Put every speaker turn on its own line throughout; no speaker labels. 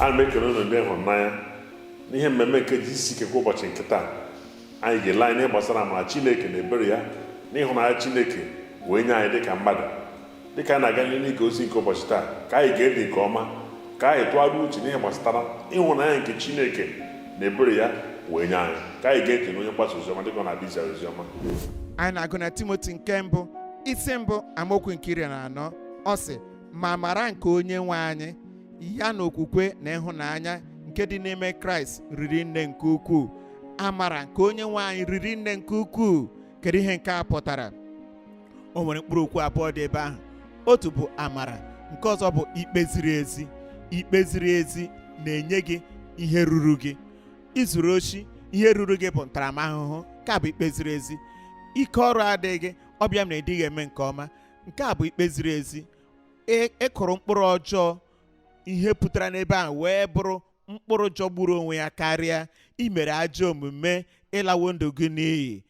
ana m ekele unu ndị ịhụnanya n'ihe mmemme nke GCK kwa ụbọchị nke taa anyị ga-ele anya ihe gbasara amara chineke na ebere ya na ịhụnanya chineke wee nye anyị dịka mmadụ dịka anyị na-aga n'ihu n'ige ozi nke ụbọchị taa ka anyị gee ntị nke ọma ka anyị tụgharịa uche n'ihe gbasara ịhụnanya nke chineke na ebere ya wee nye anyị ka anyị gee ntị na onye mgbasa oziọma dịka ọ na-abịa izi oziọma anyị na-agụ
na timoti nke mbụ isi mbụ amaokwu nke iri na anọ ọ sị ma amara nke onye nwe anyị ya na okwukwe na ịhụnanya nke dị n'ime kraịst riri nne nke ukwuu amara nke onye nwe anyị riri nne nke ukwuu kedu ihe nke a pụtara o nwere mkpụrụ okwu abụọ dị ebe ahụ otu bụ amara nke ọzọ bụ ikpe ziri ezi ikpe ziri ezi na-enye gị ihe ruru gị i zuru oshi ihe ruru gị bụ ntaramahụhụ nke a bụ ikpe ziri ezi ike ọrụ adịghị gị ọ bịa mee na ị dịghị eme nke ọma nke a bụ ikpe ziri ezi E- ị kụrụ mkpụrụ ọjọọ ihe pụtara n'ebe ahụ wee bụrụ mkpụrụ jọgburu onwe ya karịa i mere ajọ omume ị lawo ndụ gị n'iyi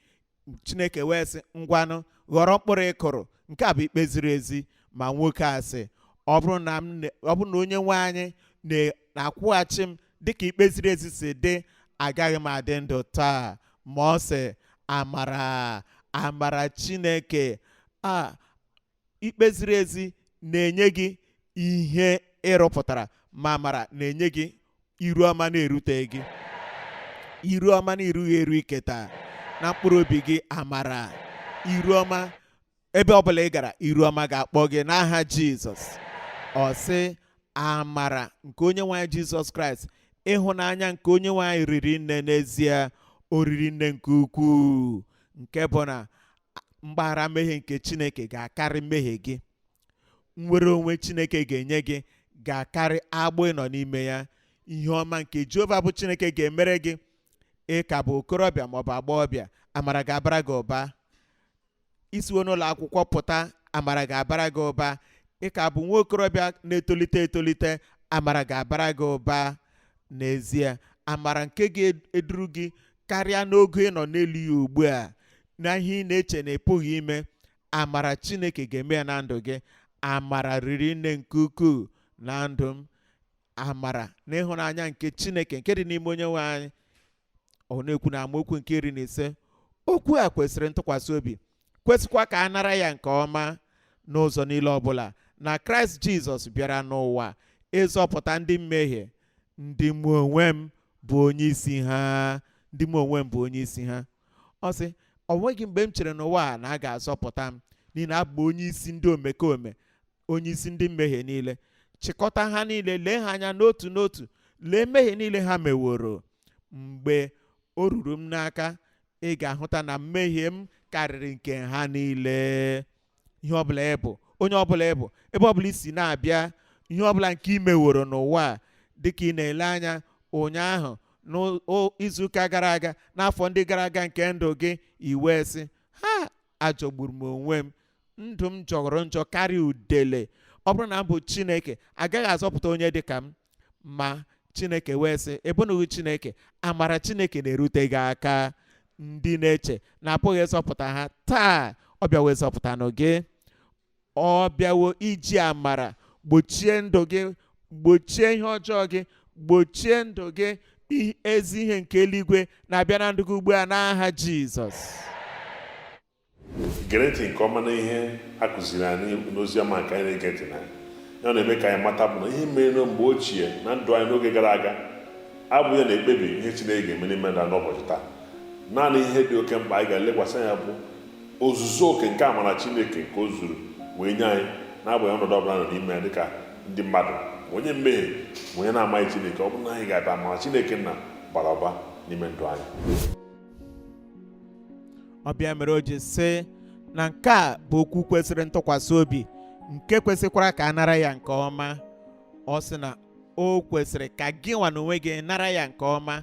chineke wee sị ngwanụ ghọrọ mkpụrụ ị kụrụ nke a bụ ikpe ziri ezi ma nwoke a sị ọ bụrụ na m na- ọ bụrụ na onye nwe anyị na- na-akwụghachi m dịka ikpe ziri ezi si dị agaghị m adị ndụ taa ma ọ sị amara amara chineke a ikpe ziri ezi na-enye gị ihe ị rụpụtara ma amara na-enye gị iru ọma na-erute gị iru ọma na i rughị eru iketa na mkpụrụ obi gị amara iru ọma ebe ọbụla ị gara iru ọma ga-akpọ gị n'aha jizọs ọ sị amara nke onye nwe anyị jizọs kraịst ịhụnanya nke onye nwe anyị riri nne n'ezie o riri nne nke ukwuu nke bụ na mgbaghara mmehie nke chineke ga-akarị mmehie gị nnwere onwe chineke ga-enye gị ga-akarị agbụ ị nọ n'ime ya ihe ọma nke jehova bụ chineke ga-emere gị ị ka bụ okorobịa maọbụ agbọghọbịa amara ga-abara gị ụba i siwo n'ụlọ akwụkwọ pụta amara ga-abara gị ụba ị ka bụ nwa okorobịa na-etolite etolite amara ga-abara gị ụba n'ezie amara nke ga-eduru gị karịa n'ogo ị nọ n'elu ya ugbu a na ihe ị na-eche na ị pụghị ime amara chineke ga-eme ya na ndụ gị amara riri nne nke ukwuu na ndụ m amara na ịhụnanya nke chineke nke dị n'ime onye nwe anyị ọ na-ekwu na amaokwu nke iri na ise okwu a kwesịrị ntụkwasị obi kwesịkwa ka a nara ya nke ọma n'ụzọ niile ọbụla na kraịst jizọs bịara n'ụwa ịzọpụta ndị mmehie ndị mụ onwe m bụ onye isi ha ndị mụ onwe m bụ onye isi ha ọ sị ọ nweghị mgbe m chere n'ụwa a na a ga-azọpụta m n'ihi na abụ onye isi ndị omekome onye isi ndị mmehie niile chịkọta ha niile lee ha anya n'otu n'otu lee mmehie niile ha meworo mgbe o ruru m n'aka ị ga-ahụta na mmehie m karịrị nke ha niile ihe ọbụla ị bụ onye ọbụla ị bụ ebe ọbụla i si na-abịa ihe ọbụla nke ị meworo n'ụwa a dịka ị na-ele anya ụnyaahụ n'izuụka gara aga n'afọ ndị gara aga nke ndụ gị i wee sị ha ajọgburu m onwe m ndụ m jọrọ njọ karịa udele ọ bụrụ na m bụ chineke agaghị azọpụta onye dị ka m ma chineke wee sị ị bụnụghị chineke amara chineke na-erute gị aka ndị na-eche na a pụghị ịzọpụta ha taa ọ bịawo ịzọpụtanụ gị ọ bịawo iji amara gbochie ndụ gị gbochie ihe ọjọọ gị gbochie ndụ gị ezi ihe nke eluigwe na-abịa na ndụ gị ugbu a n'aha jizọs
gere ntị nke ọma na ihe a kụziri anyị n'ozi ọma nke anyị na-ege ntị na ya ọ na-eme ka anyị mata bụ na ihe mere na mgbe ochie na ndụ anyị n'oge gara aga abụghị ya na-ekpebi ihe Chineke ga-eme n'ime ndụ n'ụbọchị taa naanị ihe dị oke mkpa anyị ga-elekwasị anya bụ ozuzu oke nke amara Chineke nke o zuru wee nye anyị n'agbanyeghị ọnọdụ ọbụla nọ n'ime ya dịka ndị mmadụ ma onye mmehie ma onye na-amaghị Chineke ọ bụrụ na anyị ga-abịa amara Chineke nna ga-abara ụba n'ime ndụ anyị
ọ bụ ya mere o ji sị na nke a bụ okwu kwesịrị ntụkwasị obi nke kwesịkwara ka a nara ya nke ọma ọ sị na o kwesịrị ka gị nwa na onwe gị nara ya nke ọma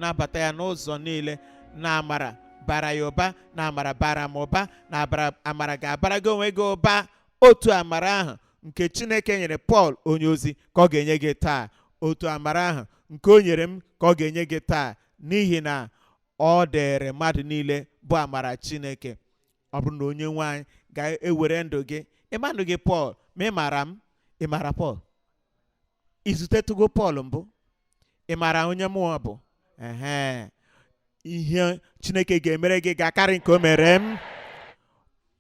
nabata ya n'ụzọ niile na amara bara ya ụba na amara bara m ụba na amara ga-abara gị onwe gị ụba otu amara ahụ nke chineke nyere pọl onye ozi ka ọ ga-enye gị taa otu amara ahụ nke o nyere m ka ọ ga-enye gị taa n'ihi na ọ dịrị mmadụ niile bụ amara chineke ọ bụrụ na onye nwe anyị ga-ewere ndụ gị ị ma ndụ gị pọl ma ị mara m ị mara pọl i zutetụgo pọl mbụ ị maara onye m bụ ehe ihe chineke ga-emere gị ga-akarị nke o mere m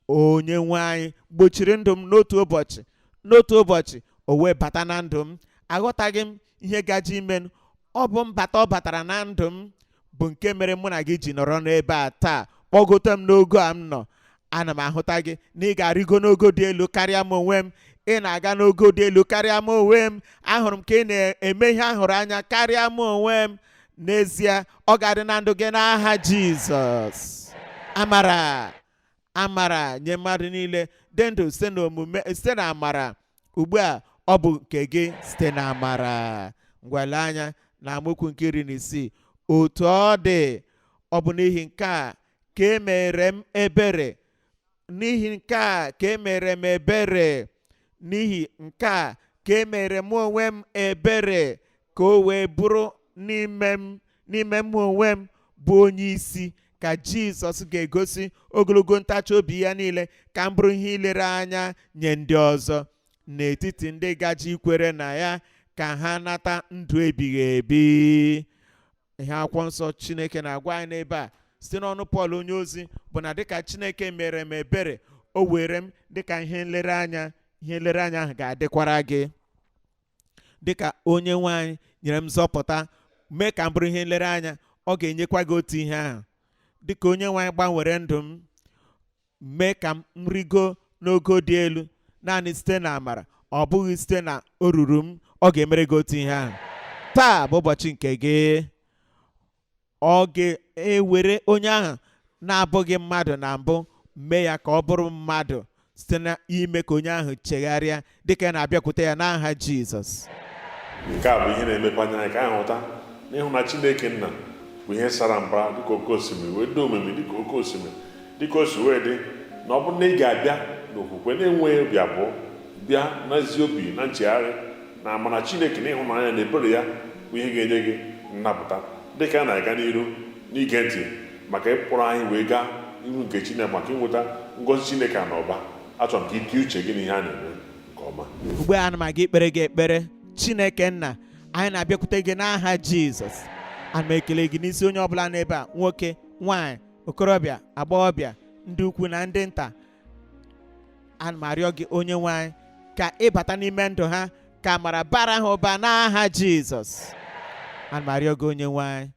onye nwe anyị gbochiri ndụ m n'otu ụbọchị n'otu ụbọchị o wee bata na ndụ m aghọtaghị m ihe gaje imenụ ọ bụ mbata ọ batara na ndụ m bụ nke mere mụ na gị ji nọrọ n'ebe a taa kpọgote m n'ogo a m nọ ana m ahụta gị na ị ga-arịgo n'ogo dị elu karịa m onwe m ị na-aga n'ogo dị elu karịa m onwe m ahụrụ m ka ị na-eme ihe a hụrụ anya karịa m onwe m n'ezie ọ ga-adị na ndụ gị n'aha jizọs amara amara nye mmadụ niile dị ndụ site na omume site na amara ugbu a ọ bụ nke gị site na amara ngwa lee anya na amaokwu nke iri na isii otu ọ dị ọ bụ n'ihi nke a ka e mere m ebere n'ihi nke a ka e mere m ebere n'ihi nke a ka e mere mụ onwe m ebere ka o wee bụrụ n'ime mụ onwe m bụ onye isi ka jizọs ga-egosi ogologo ntachi obi ya niile ka m bụrụ ihe ilere anya nye ndị ọzọ n'etiti ndị gaje ikwere na ya ka ha nata ndụ ebighị ebi ihe akwụkwọ nsọ chineke na-agwa anyị n'ebe a site n'ọnụ pọl onye ozi bụ na dịka chineke mere m ebere o were m dịka ihe nlereanya ihe nlereanya ahụ ga-adịkwara gị dịka onye nwe anyị nyere m nzọpụta mee ka m bụrụ ihe nlereanya ọ ga-enyekwa gị otu ihe ahụ dịka onye nwe anyị gbanwere ndụ m mee ka m rigo n'ogo dị elu naanị site na amara ọ bụghị site na o ruru m ọ ga-emere gị otu ihe ahụ taa bụ ụbọchị nke gị ọ ga-ewere onye ahụ na-abụghị mmadụ na mbụ mee ya ka ọ bụrụ mmadụ site n'ime ka onye ahụ chegharịa dịka a na-abịakwute ya n'aha Jizọs nke a
bụ ihe na-emepe anya anyị ka anyị hụta na ịhụnanya Chineke nna bụ ihe sara mbara dịka oke osimiri wee dị omimi dịka oke osimiri dịka o si wee dị na ọ bụrụ na ị ga-abịa n'okwukwe na-enweghị obi abụọ bịa n'ezi obi na nchegharị na amara Chineke na ịhụnanya na ebere ya bụ ihe ga-enye gị nnapụta dị ka a na-aga n'iru n'ige ntị maka ịkpọrọ anyị wee gaa iru nke Chineke maka inweta ngọzi Chineke a n'ụba achọrọ m ka i tinye uche gị n'ihe a na-eme nke ọma ugbu a ana m
aga ikpere gị ekpere Chineke nna anyị na-abịakwute gị n'aha Jizọs ana m ekele gị n'isi onye ọbụla n'ebe a nwoke nwaanyị okorobịa agbọghọbịa ndị ukwu na ndị nta ana m arịọ gị onye nwe anyị ka ị bata n'ime ndụ ha ka amara bara ha ụba n'aha jizọs ana m arịọ gị onye nwe anyị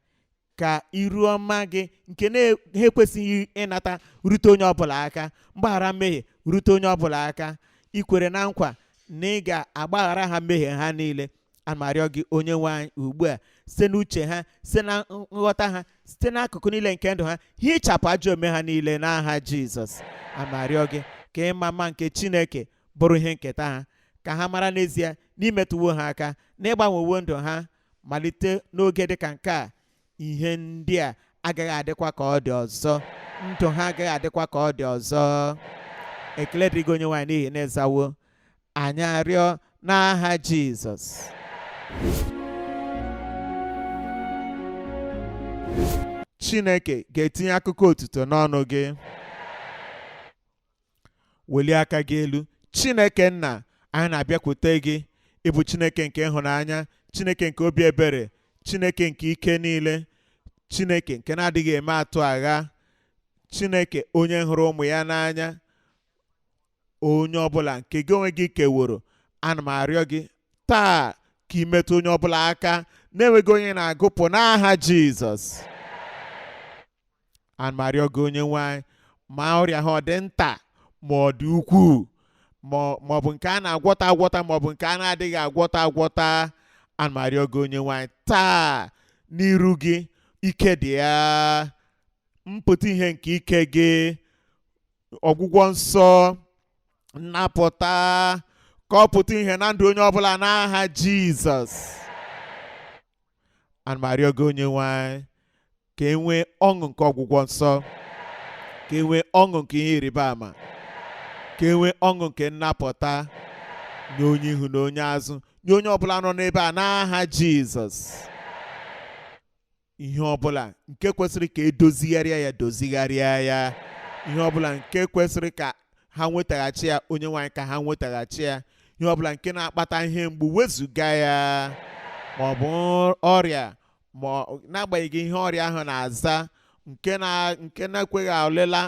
ka iru ọma gị nke ha na-ekwesịghị ịnata rute onye ọbụla aka mgbaghara mmehie rute onye ọbụla aka i kwere na nkwa na ị ga-agbaghara ha mmehie ha niile ana m arịọ gị onye nwe anyị ugbu a site n'uche ha site na nghọta ha site n'akụkụ niile nke ndụ ha hichapụ ajọ omume ha niile n'aha jizọs ana m arịọ gị ka ịma mma nke chineke bụrụ ihe nketa ha ka ha mara n'ezie na i metụwo ha aka na ị gbanwewo ndụ ha malite n'oge dị ka nke a ihe ndị a agaghị adịkwa ka ọ dị ọzọ ndụ ha agaghị adịkwa ka ọ dị ọzọ ekele dịrị gị onye nwe anyị n'ihi na ị zawo anyị arịọ n'aha Jizọs Chineke ga-etinye akụkọ otuto n'ọnụ gị welie aka gị elu Chineke nna anyị na-abịakwute gị ị bụ Chineke nke ịhụnanya Chineke nke obi ebere Chineke nke ike niile Chineke nke na-adịghị eme atụ agha Chineke onye hụrụ ụmụ ya n'anya onye ọbụla nke gị onwe gị keworo ana m arịọ gị taa ka ị metụ onye ọbụla aka na-enweghị onye na-agụpụ n'aha jizọs ana m arịọ gị onye nwe anyị ma ọrịa ha ọ dị nta ma ọ dị ukwuu ma ọ- ma ọ bụ nke a na-agwọta agwọta ma ọ bụ nke a na-adịghị agwọta agwọta ana m arịọ gị onye nwe anyị taa n'iru gị ike dị ya mpụta ihe nke ike gị ọgwụgwọ nsọ nnapụta ka ọ pụta ihe na ndụ onye ọbụla n'aha jizọs ana m arịọ gị onye nwe anyị ka e nwee ọṅụ nke ọgwụgwọ nsọ ka e nwee ọṅụ nke ihe ịrịba ama ka e nwee ọṅụ nke nnapụta nye onye ihu na onye azụ nye onye ọbụla nọ n'ebe a n'aha jizọs ihe ọbụla nke kwesịrị ka e dozigharịa ya dozigharịa ya ihe ọbụla nke kwesịrị ka ha nwetaghachi ya onye nwe anyị ka ha nwetaghachi ya ihe ọbụla nke na-akpata ihe mgbu wezụga ya ma ọ bụ ọrịa ma n'agbanyeghị ihe ọrịa ahụ na-aza nke na nke na-ekweghị ọlịla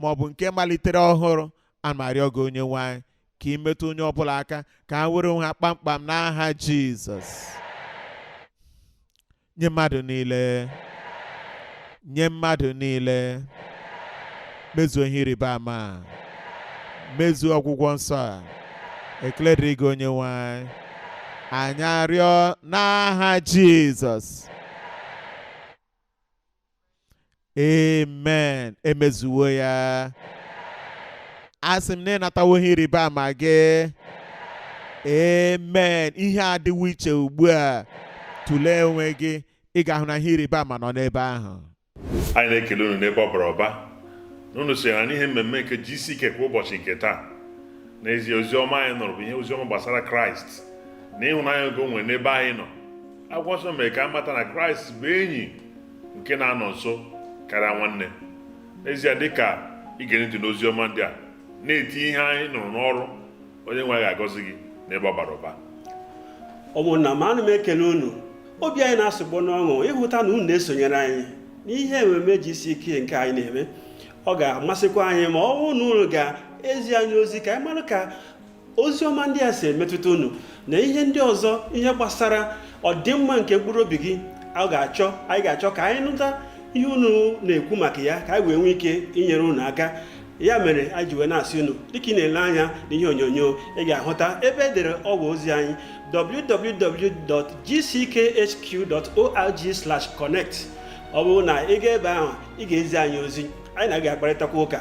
ma ọ bụ nke malitere ọhụrụ ana m arịọ gị onye nwe anyị ka ị metụ onye ọbụla aka ka ha were onwe ha kpamkpam n'aha jizọs nye mmadụ niile nye mmadụ niile mezuo ihe ịrịba ama a mezuo ọgwụgwọ nsọ a ekele dịrị gị onye nwe anyị anyị arịọ n'aha jizọs amen e mezuwo ya asị m na ị natawo ihe ịrịba ama gị amen ihe adịwo iche ugbu a tụlee onwe gị ị ga-ahụ na ihe ịrịba ama nọ n'ebe ahụ anyị
na-ekele unu n'ebe ọ bara ụba na unu sonyere anyị n'ihe mmemme nke GCK kwa ụbọchị nke taa n'ezie ozi ọma anyị nụrụ bụ ihe ozi ọma gbasara kraịst na ịhụnanya nke o nwere n'ebe anyị nọ akwụkwọ nsọ mere ka a mata na kraịst bụ enyi nke na-anọ nso karịa nwanne n'ezie dịka i gere ntị n'ozi ọma ndị a na-etinye ihe anyị nụrụ n'ọrụ onye nwe ga-agọzi gị n'ebe ọ bara ụba
ụmụnna m ana m ekele unu obi anyị na-asụgbo n'ọṅụ ịhụta na unu na-esonyere anyị n'ihe ememe GCK nke anyị na-eme ọ ga-amasịkwa anyị ma ọ bụrụ na unu ga-ezi anyị ozi ka anyị mara ka ozi ọma ndị a si emetụta unu na ihe ndị ọzọ ihe gbasara ọdịmma nke mkpụrụ obi gị a ga-achọ anyị ga-achọ ka anyị nụta ihe unu na-ekwu maka ya ka anyị wee nwee ike inyere unu aka ya mere anyị ji wee na-asị unu dịka ị na-ele anya na ihe onyonyo ị ga-ahụta ebe e dere ọwa ozi anyị www.gckhq.org/connect ọ bụrụ na ị ga ebe ahụ ị ga-ezi anyị ozi anyị na gị ga-akparịtakwa ụka